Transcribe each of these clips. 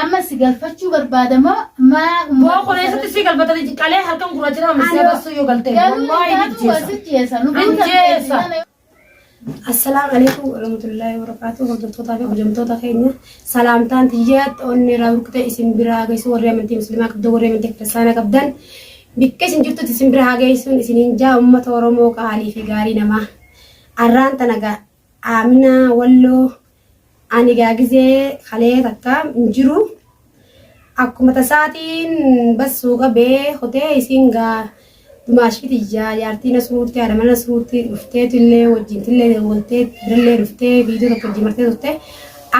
Amma si galfachuu barbaada moo maa Boo kun eessatti si galfatanii qalee halkan gurraacha nama misee bassuu yoo galtee. Wallaahi hijjeessa. Hijjeessa. Assalaamu alaikum warahmatullahi wabarakatuh hordoftoota fi hojjamtoota keenya salaamtaan tiyyaatti onni irraa burkutee isin biraa geessu warri amantii musliimaa qabdan warri amantii kiristaanaa qabdan bikka isin jirtutti isin biraa geessuun isiniin jaa uummata oromoo qaalii fi gaarii namaa arraan tanagaa Amina wallo ani gaa gizee kalee takka hin jiru akkuma tasaatiin bassuu qabee hotee isiin gaa dumaashii tiyyaa jaartii nasruutti haadha mana nasruutti dhufteetu illee wajjin tillee dawwaltee birallee dhuftee viidiyoo tokko wajjin martee turte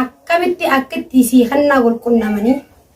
akkamitti akkitti sii kannaa wal qunnamanii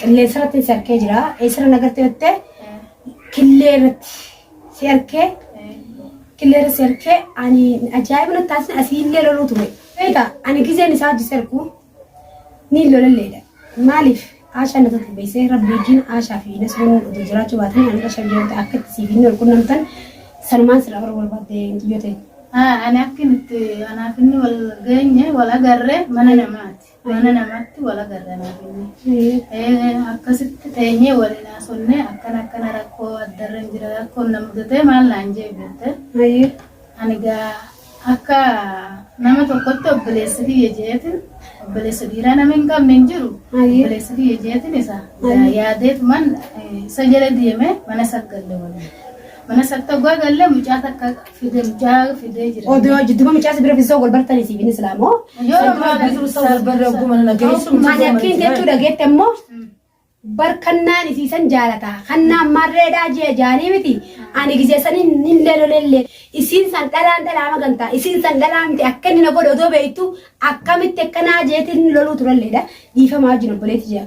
Qilleensa irratti si arkee jira. Eessarra na garte jettee killee irratti si arkee killee irratti si arkee ani ajaa'iba natti taasise asiillee loluu ture. Beekaa ani gizeen isaa hojii sarkuu ni lolalleedha. Maaliif Aashaa na tokko beeksee rabbi wajjin Aashaa fi Nasruun oduu jiraachuu baatanii ani Aashaa biyyoota akka itti siif hin walqunnamtan sanumaan sirraa bara barbaadde hin xiyyootee. Ani akka nuti anaaf inni wal geenye wal agarre mana namaati. Mana namaatti wal agarra naa jennee. Akkasitti teenyee waliin haasofnee akkana akkana rakkoo addarra hin jira rakkoon na mudatee maal naan jee beekte. Ani gaa akka nama tokkotti obboleessi kiyya jeetin obboleessa dhiiraa nama hin qabne hin jiru. Obboleessi kiyya jeetin isa yaadeetuman isa jala deemee mana saggalle waliin. Mana saggalle mucaa takka Fidel jaa fidee jira. Odoo jidduba mucaa sibira fiisoo wal bartanii siif hin islaamoo. Yeroo muraasa tursa wal barra oguma nana geessu. Ani akkiin jechuu dhageette immoo bar kannaan isiisan jaalata. Kannaan marreedhaa jee jaanii miti. Ani giseessanii hin leelolellee. Isiin san dhalaan dhalaa magantaa. Isiin san dhalaa miti akka inni na godhe odoo beektu akkamitti akkanaa jeetiin loluu turalleedha. Dhiifamaa wajjin obboleetti jira.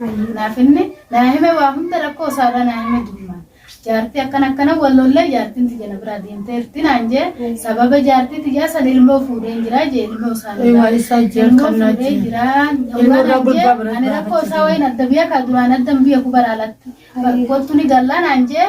Hayyee naaf himne naa hime waa hunda rakkoo isaarraa naa hime durumaan. Jaartii akkana akkana wal lollee jaartiin tiyya na biraa deemteerti naan jee sababa jaartii tiyyaa san ilmoo fuudheen jiraa jee ilmoo isaan Ee, waa isaa jee ilmoo kan naa fuudhee jee. jiraa Ilmoo dhugaa irraa naan jee gurbaa biraa ani rakkoo isaa wayiin adda biyya kaa duraan addan biyya kubara alatti Hayyee. kottu ni gallaa naan jee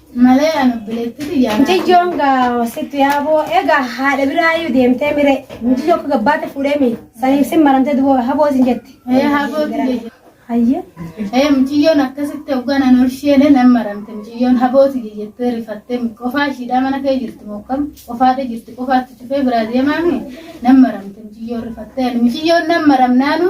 Malee an obboleettii tiyyaa. Miciyyoon gaawasitti yaaboo egaa haadha biraayyuu deemtee mire miciyyoo akka gabbaate fuudhee mi saniif sin maramtee duboo haboo sin jette. Ee haboo tiyya. Hayyee. Ee miciyyoon akkasitti hoggaan an olsheene nan maramte miciyyoon haboo tiyya jettee rifattee qofaa ishiidhaa mana kee jirti mokkam qofaadha jirti qofaatti cufee biraa deemaami nan maramte miciyyoon rifattee ani miciyyoon nan maramnaanu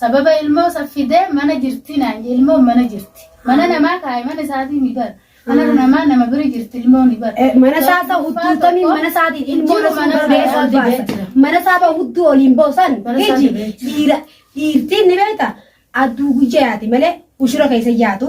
Sababa ilmoo san fidee mana jirti naan jedhe ilmoon mana jirti mana namaa kaaye mana isaatii mi bar mana namaa nama biri jirti ilmooni bar Mana isaa ta hudduu tamiin mana isaatiin ilmoo Jiru mana isaa beeku ol dibee baasa. jira. Mana isaa ba hudduu oliin boosan Mana isaa iji dibee jira. dhiira dhiirtiin ni beekta adduu guyyaa yaati malee ushura keessa yaatu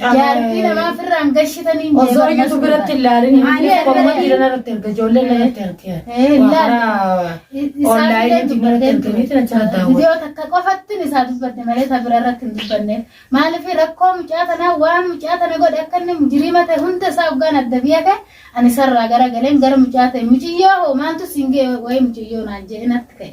Jaartii namaa firraan gashitanii hin Osoo jeeqamna iyyuu biratti hin laalin hin Ani tokko amma irratti- dhiirana irratti erga ijoolleen irratti erga. Eh, hin laalin. Online Online irratti dubbattee erganiiti na jala daawwatu. Viidiyoo takka qofattin isaa dubbatte malee isa bira irratti hin dubbanne. Maaliif rakkoo mucaa tanaa waan mucaa tana godhe akka inni mujiriima ta'e hunda isaa hoggaan adda biyya ta'e ani sarraa gara galeen gara mucaa ta'e muciyyoo hoo maaltu siin ga'e wayii muciyyoo naan jedhe natti ka'e.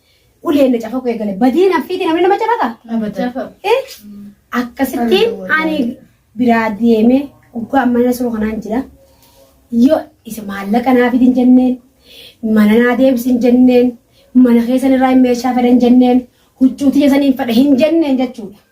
uleen na cafaquu eegale. Badii naffiitii namni nama cafaqa. Abadan. Eh, Akkasittiin ani biraa deemee oggaa amma na suru kanaan jira. Yoo isa maallaqa naa fidin jenneen, mana naa deebisin jenneen, mana keessan irraa hin meeshaa fedhan jenneen, huccuu tiyya saniin fedha hin jenneen jechuudha.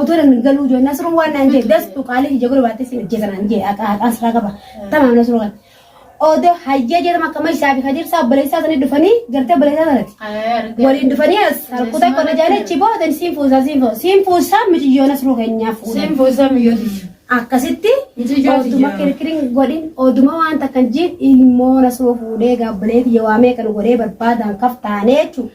Odoo nan galuu jiru Nasruun waan naan jee dastu qaalii ija godhu baattee si hojjeta naan jee haqaa haqaa siraa qaba tamaam Nasruu kan. Odoo hayyee jedhama akka mashaa fi kadirsaa obboleessaa sanii dhufanii gartee obboleessaa sanati. Waliin dhufanii as halkutaa qonna jaalee chiboo odan siin fuusaa siin fuusaa siin fuusaa mitiyyoo Nasruu keenyaaf fuudha. Siin fuusaa miyyooti. Akkasitti Mitiyyoo oduma tiyyaa. kirkiriin godhin oduma waan takkan jiin ilmoo Nasruu fuudhee gaabbilee tiyya waamee kan godhee barbaadaan kaf taanee jechuudha.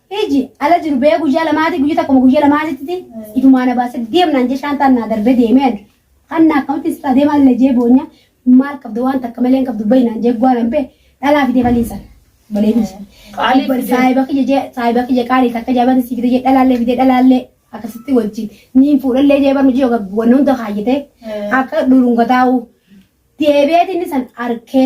Iji ala jiru bee guyyaa lamaati guyya takkuma guyya lamaatitti ifumaa na baase deemnaan jee shaantaan naa darbee deemee ani hanna akkamittiin sirraa deemaa illee jee boonya maal qabda waan takka malee hin qabdu bayi naan jee guwaa nan bee dhalaa fidee balii san balee biyya Qaalii fidee. saahiba kiyya jee saahiba kiyya qaalii takka jaabata sii fidee jee dhalaallee fidee dhalaallee akkasitti wajjin niin fuudhallee jee barnu jee wanna hunda kaayyatee akka dhulunga taa'uu deebi'eetiin san arkee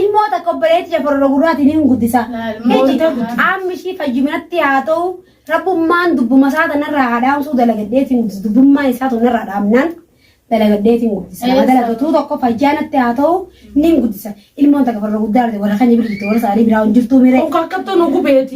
Ilmoo takka obboleetti jafarora gurraatiin hin guddisa. Qaamni ishii fayyuminatti haa ta'u rabbummaan dubbuma isaa tanarraa haa dhaamsuu dalagadheetiin guddisa. Dubbummaan isaa tanarraa dhaamnaan dalagadheetiin guddisa. Nama dalagatuu tokko fayyaanatti haa ta'u nin guddisa. Ilmoon takka farra guddaa argite warra keenya bira jirti warra isaanii biraa hin jirtuu miree. Konkolkattoon gubeeti.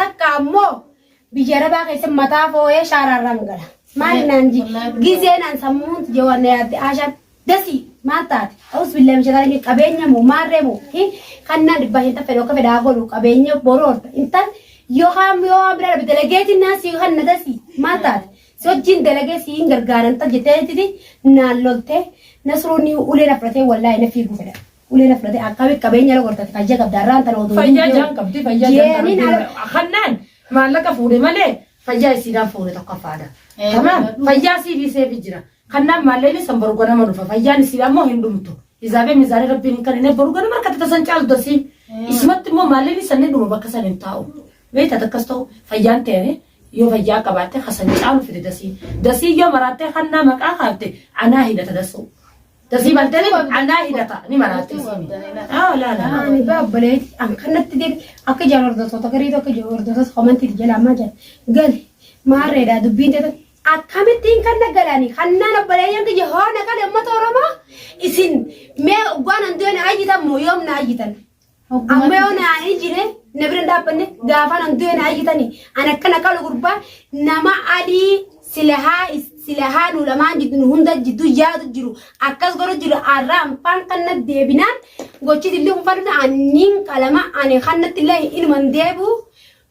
Takka ammoo biyya arabaa keessatti mataa fooyee shaaraarraan gala. Maali naan ji gizee naan sammuun jawaan na yaadde aashaan dasii maal taate ta'us billaa mishataa qabeenya moo maarree moo kan naan dhibbaa hin taffedhu akka fedhaa godhu qabeenya boroorta intal yookaan yoo waan biraa dhabe dalageetiin naan sii kan na dasii maal taate si wajjin dalagee sii hin gargaaran tal jetteetti naan loltee nasruun ulee na fudhatee wallaahi na fiiguu fedha. Ulee na fudhate akkamitti qabeenya irra gortati fayya qabda har'aan tana oduu Fayyaa hin jaan qabdi fayyaa jaan Jeeniin qabdi. ala- Hannaan maallaqa fuudhe malee fayyaa isiidhaan fuudhe tokkoffaadha. Eh, Kanaaf dhugaa. fayyaa sii dhiisee fi jira. Kanaaf maallaqni san boru ganama dhufa fayyaan isii ammoo hin dhumtu. Izaabee mizaanii rabbiin hin kannine boru ganama harkatti tasan caalu dasii. Eh. Isumatti immoo maallaqni san ni dhuma bakka san hin taa'u. Beekta takkas ta'u fayyaan ta'e yoo fayyaa qabaatte hasan caalu fide dasii. Dasii yoo maraattee hannaa maqaa kaafte anaa hidhata dasuu. Dasii baltani anaa hidhata ni maraatti. Ah laa laa. Ani baa obboleetti an kanatti deebi akka jaan hordoftoota garii tokko jiru hordoftoota komantii jala ammaa jala gali maarreedha dubbiin teetan akkamittiin kan na galani kannaan obboleeyyan kiyya hoona kan uummata oromoo isin mee ogwaan handu'e na ayyitan moo yoom na ayyitan Amma yoo na hin jire na bira hin dhaabbanne gaafa nan du'e na ayyitani. An akkana qalu gurbaa nama adii silahaa is- silahaa nu lamaan jiddu nu hunda jiddu yaadu jiru akkas godhu jiru arra anfaan kan na deebinaan gochi dilli kun fadhina anniin qalama ani kan natti illee inuman deebu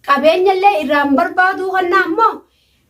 qabeenya illee irraan barbaadu kan na ammoo